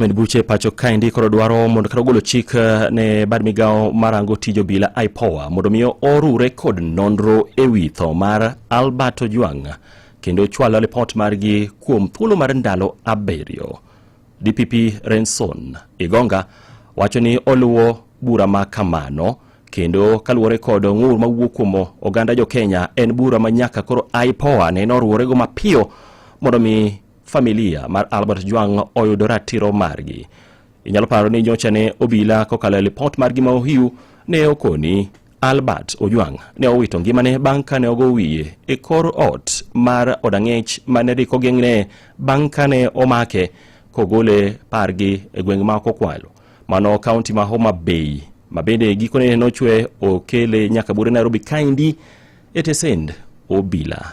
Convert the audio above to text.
Med buche e pacho kaendi koro dwaro mondo kata ogolo chik eh, ne bad migawo marango tij obila IPOA mondo miyo orure kod nonro e wi tho mar Albert Ojwang kendo chwalo ripot margi kuom thuolo mar ndalo abiriyo. DPP Renson Igonga wacho ni oluwo bura ma kamano kendo kaluwore kod ng'ur mawuok kuom oganda jo Kenya en bura ma nyaka koro IPOA neno oruworego mapiyo mondo mi familia mar Albert Jwang oyudo ratiro margi. Inyalo paro ni nyocha ne obila kokalo e lipot margi ma Ohiu ne okoni Albert Ojwang ne owito ngimane bang' kane ogo wiye e kor ot mar odang'ech mane dhi kogeng'ne bang' kane omake kogole pargi e gweng' ma Kokwalo mano kaunti ma Homa Bay ma bende gikone nochwe okele nyaka bure Nairobi kaendi e tesend obila.